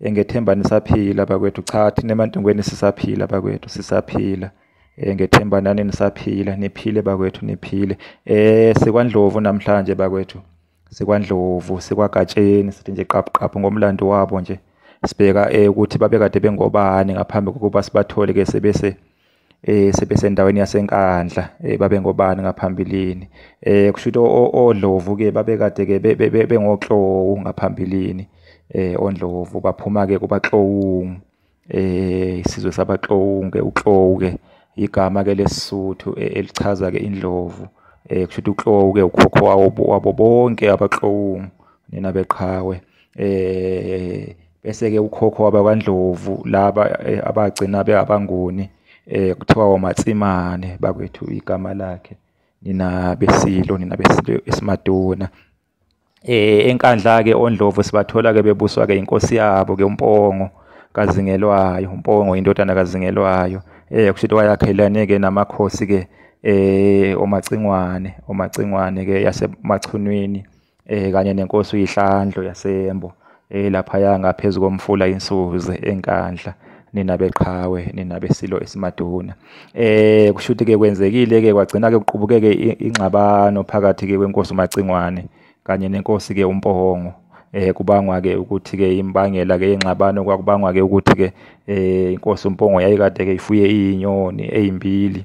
Engethemba nisaphila bakwethu cha thina emantungweni sisaphila bakwethu sisaphila eh, ngethemba nani nisaphila niphile bakwethu niphile eh sikwandlovu namhlanje bakwethu sikwandlovu sikwagatsheni sithi nje qaphu qaphu ngomlando wabo nje sibheka eh ukuthi babekade bengobani ngaphambi kokuba sibathole ke sebese eh sebesendaweni yaseNkandla eh, babengobani ngaphambilini eh kushuthi odlovu ke babekade ke bengoklowu ngaphambilini eh ondlovu baphuma ke kubaklowungu eh isizwe sabaklowungu ke uklowu ke igama ke lesisuthu eh, elichaza ke indlovu eh kushuthi uklowu ke ukhokho wabo bonke abaklowungu nina beqhawe eh bese-ke ukhokho wabakwaNdlovu laba eh, abagcina beabangoni um eh, kuthiwa woMatsimane bakwethu igama lakhe nina beSilo nina beSilo eSimaduna eh enkandla-ke oNdlovu sibathola-ke bebuswa-ke inkosi yabo-ke uMpongo kaZingelwayo uMpongo indodana kaZingelwayo eh kusho ukuthi wayakhelane-ke namakhosi-ke eh oMacingwane oMacingwane-ke yaseMachunwini eh kanye nenkosi uyiHlandlo yaseMbo eh laphaya ngaphezulu komfula iNsuze eNkandla nina beqhawe nina besilo esimaduna eh kushuthi ke kwenzekile ke kwagcina ke kuqubukeke ingxabano phakathi ke kwenkosi uMacingwane kanye nenkosi ke uMpohongo eh kubangwa ke ukuthi ke imbangela ke ingxabano kwakubangwa ke ukuthi ke eh inkosi uMpongo yayikade ke ifuye izinyoni ezimbili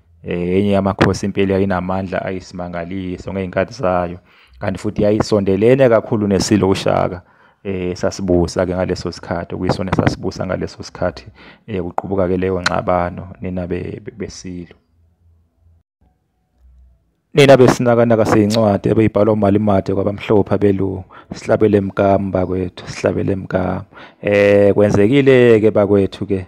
Eh, enye yamakhosi impela yayinamandla ayisimangaliso ngey'nkathi zayo kanti futhi yayisondelene kakhulu nesilo ushaka eh sasibusa ke ngaleso sikhathi kuyisona sasibusa ngaleso sikhathi eh kuqubuka ke leyo ngxabano nina besilo nina besinakanaka seyincwadi ebeyibhalwa umalimade kwabamhlophe abelungu sihlabele mkami bakwethu sihlabele mkami eh kwenzekile ke bakwethu ke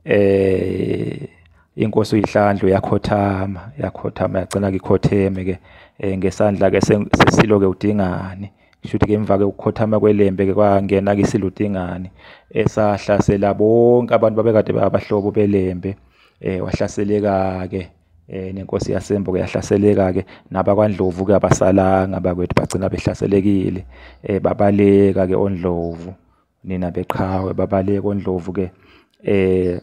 eh inkosi uyihlandlo yakhothama yakhothama yagcina ngikhotheme ke eh, ngesandla ke sesilo ke udingani shuthi ke emva ke ukukhothama kwelembe ke kwangena ke isilo udingani esahlasela bonke abantu babekade babahlobo belembe eh wahlaseleka ke eh nenkosi yasembo ke yahlaseleka ke nabakwaNdlovu ke abasalanga bakwethu bagcina behlaselekile eh babaleka ke oNdlovu nina beqhawe babale kondlovu ke eh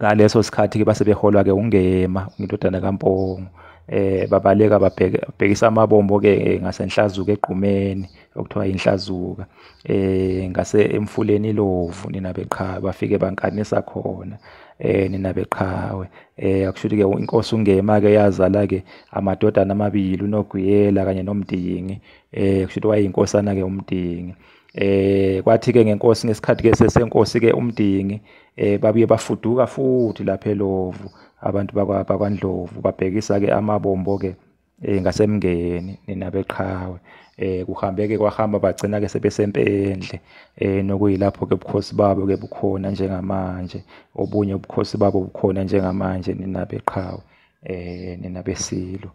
ngaleso sikhathi ke base beholwa ke ungema indodana kaMpongo eh babaleka babhekisa amabombo ke eh, ngasenhlazuka egqumeni okuthiwa inhlazuka eh ngase emfuleni ilovu nina beqhawe bafike bankanisa khona eh nina beqhawe eh akushuthi ke inkosi ungema ke yazala ke amadodana amabili unoguyela kanye nomdingi eh kushuthi wayeyinkosana ke umdingi eh kwathi ke ngenkosi ngesikhathi ke sesenkosi ke umdingi eh babuye bafuduka futhi lapha eLovu abantu bakwa bakwaNdlovu babhekisa ke amabombo ke eh ngasemngeni ninabeqhawe eh kuhambe ke kwahamba bagcina ke sebesempendle eh nokuyilapho ke ubukhosi babo ke bukhona njengamanje obunye ubukhosi babo bukhona njengamanje ninabeqhawe eh ninabesilo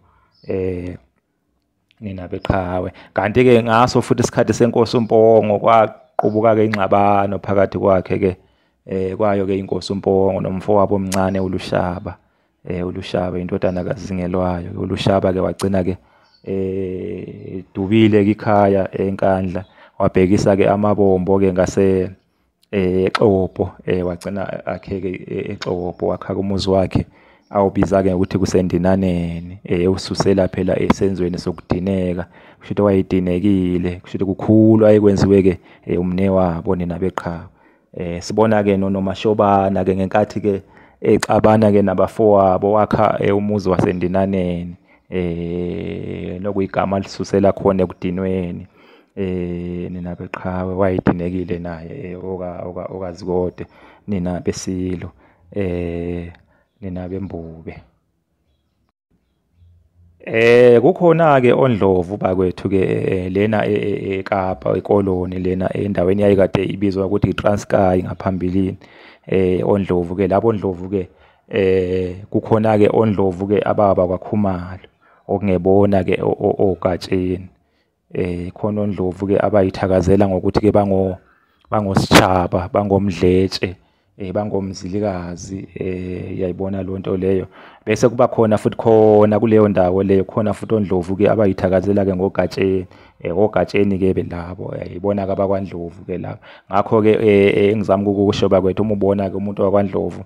eh nina beqhawe kanti-ke ngaso futhi isikhathi senkosi umpongo kwaqubuka-ke ingxabano phakathi kwakhe-ke eh kwayo-ke inkosi umpongo nomfowabo omncane ulushaba eh ulushaba indodana kazingelwayo ulushaba-ke wagcina-ke eh dubile kikhaya enkandla wabhekisa-ke amabombo-ke ngase eh exopo eh wagcina akheke eh, exopo wakha umuzi wakhe awubiza ke ukuthi kusendinaneni eh ususela phela esenzweni sokudineka kusho ukuthi wayedinekile kusho ukuthi kukhulu ayekwenziwe ke eh, umne wabo nina beqhawe eh sibona ke nonomashobana ke ngenkathi ke exabana ke nabafowabo wakha eh, umuzi wasendinaneni eh nokuyigama lisusela khona ekudinweni eh nina beqhawe wayedinekile naye eh, oka oka okazikode nina besilo eh nina bembube Eh kukhona ke ondlovu bakwethu ke eh, eh, lena eh, eKapa ekoloni lena endaweni yayikade ibizwa ukuthi iTranskei ngaphambilini eh ondlovu ke labo ondlovu ke eh kukhona ke ondlovu ke ababa kwakhumalo okungebona ke ogatsheni eh khona ondlovu ke abayithakazela ngokuthi ke bango bangositshaba bangomdletshe eh bangomzilikazi eh yayibona lonto leyo bese kuba khona futhi khona kuleyo ndawo leyo khona futhi ondlovu ke abayithakazela ke ngogatsheni eh ogatsheni ke belabo yayibona eh, ke abakwandlovu ke laba ngakho ke eh, eh, engizama ukukusho bakwethu uma ubona ke umuntu wakwandlovu eh,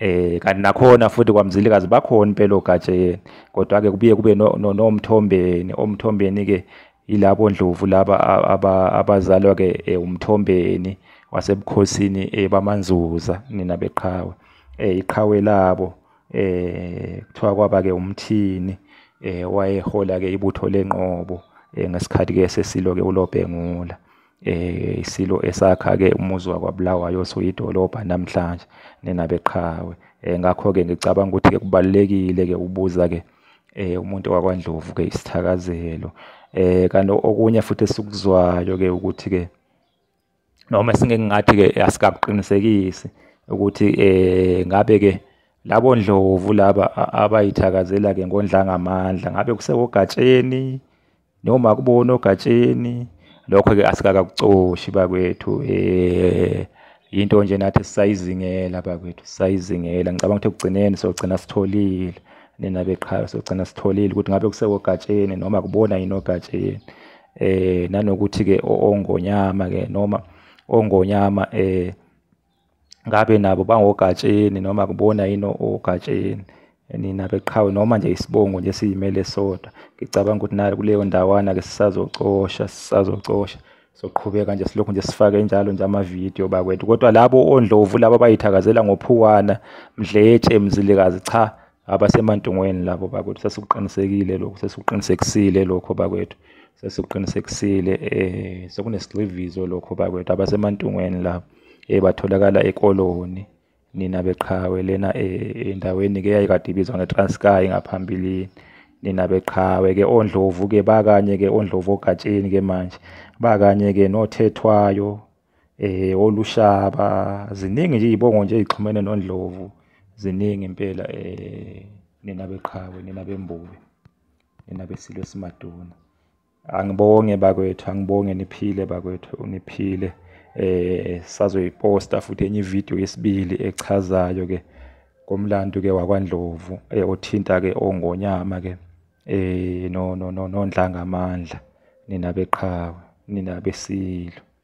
Eh kanti nakhona futhi kwaMzilikazi bakhona impela ogatsheni kodwa ke kubuye kube nomthombeni no, no omthombeni ke yilabo ndlovu laba abazalwa ke eh, umthombeni wasebukhosini eh, bamanzuza nina beqhawe eh iqhawe labo eh kuthiwa kwaba ke umthini eh wayehola ke ibutho lenqobo eh, ngesikhathi ke sesilo ke ulobhengula eh isilo esakha ke umuzi wakwaBulawayo osuyidolobha namhlanje nenabeqhawe eh ngakho ke ngicabanga ukuthi ke kubalekile ke ubuza ke eh umuntu wakwaNdlovu ke isithakazelo eh kanti okunye futhi esikuzwayo ke ukuthi ke noma singeke ngathi ke asikakuqinisekisi ukuthi eh ngabe ke labo ndlovu laba abayithakazela ke ngondla ngamandla ngabe kusewogatsheni noma kubona ogatsheni lokho-ke asikakakucoshi bakwethu um yinto nje nathi sisayizingela bakwethu sisayizingela ngicabanga ukuthi ekugcineni sogcina sitholile nina beqhayo sogcina sitholile ukuthi ngabe kusekogatsheni noma kubona yini ogatsheni um nanokuthi-ke ongonyama-ke noma ongonyama um ngabe nabo bangogatsheni noma kubona yini ogatsheni nina beqhawe noma nje isibongo nje siyimele sodwa ngicabanga ukuthi nayo kuleyo ndawana ke sisazocosha sisazocosha soqhubeka nje silokhu nje sifake njalo nje amavidiyo bakwethu kodwa labo ondlovu labo bayithakazela ngophuwana mdletshe mzilikazi cha abasemantungweni labo bakwethu sesikuqinisekile lokho sesikuqinisekisile lokho bakwethu sesikuqinisekisile eh sekunesigxivizo lokho bakwethu abasemantungweni labo eh batholakala ekoloni nina beqhawe lena eh, endaweni ke yayikade ibizwa ngeTranskay ngaphambilini nina beqhawe ke ondlovu ke bakanye ke ondlovu ogatsheni ke manje bakanye ke nothethwayo eh olushaba ziningi nje izibongo nje ezixhumene nondlovu ziningi impela eh nina beqhawe nina bembuke nina besilo simaduna angibonge bakwethu angibonge niphile bakwethu niphile eh sazoyiposta futhi enye video yesibili echazayo ke komlando ke wakwaNdlovu eh, othinta ke ongonyama ke eh no no no nondlanga amandla nina beqhawe nina besilo